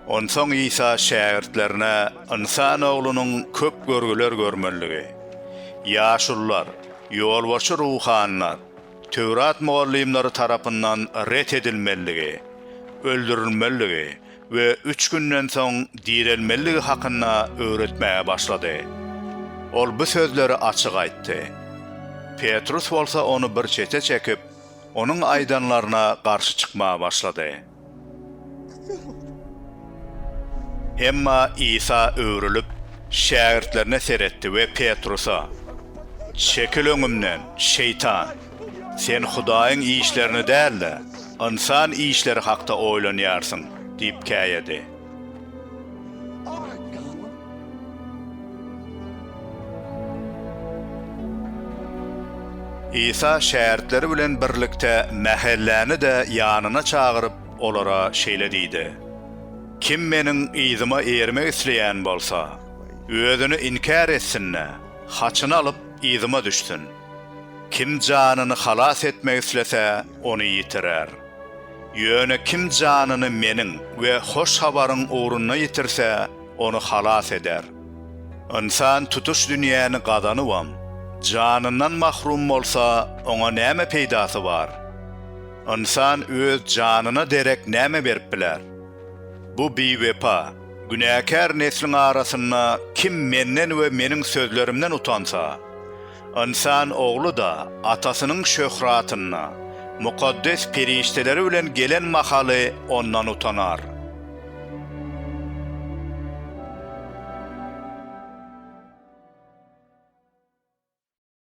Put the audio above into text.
Onsoň Isa şägirtlerine Ynsan Oglunyň köp görgüler görmelidigi, ýaşulular, ýolbaşçy ruhanylar, Töwrat mugallymlary tarapyndan ret edilmelidigi, öldürilmelidigi we üç günden soň direlmelidigi hakynda öwretmäge başlady. Ol bu sözleri açyk aýtdy. Petrus bolsa ony bir çete çekip, Onuň aýdanlaryna garşy çykmaga başlady. Emma Isa öwrülip, şägirtlerine seretdi we Petrusa, Çekil öňümden, şeýtan! Sen Hudaýyň işlerini däl-de, ynsan işleri hakda oýlanýarsyň diýip käýedi. Isa şägirtleri bilen birlikde mähelläni-de ýanyna çagyryp, olara şeýle diýdi, Kim Meniň yzyma ermek isleýän bolsa, özüni inkär etsin-de, haçyny alyp, yzyma düşsün. Kim janyny halas etmek islese, ony ýitirer. Ýöne kim janyny Meniň we Hoş Habaryň ugrunda ýitirse, ony halas eder. Ynsan tutuş dünýäni gazanybam, janyndan mahrum bolsa, oňa näme peýdasy bar? Ynsan öz janyna derek näme berip biler? Bu biwepa, günäkär nesliň arasynda kim Menden we Meniň sözlerimden utansa, Ynsan ogly-da atasynyň şöhratyny, mukaddes perişdeleri bilen gelen mahaly ondan utanar.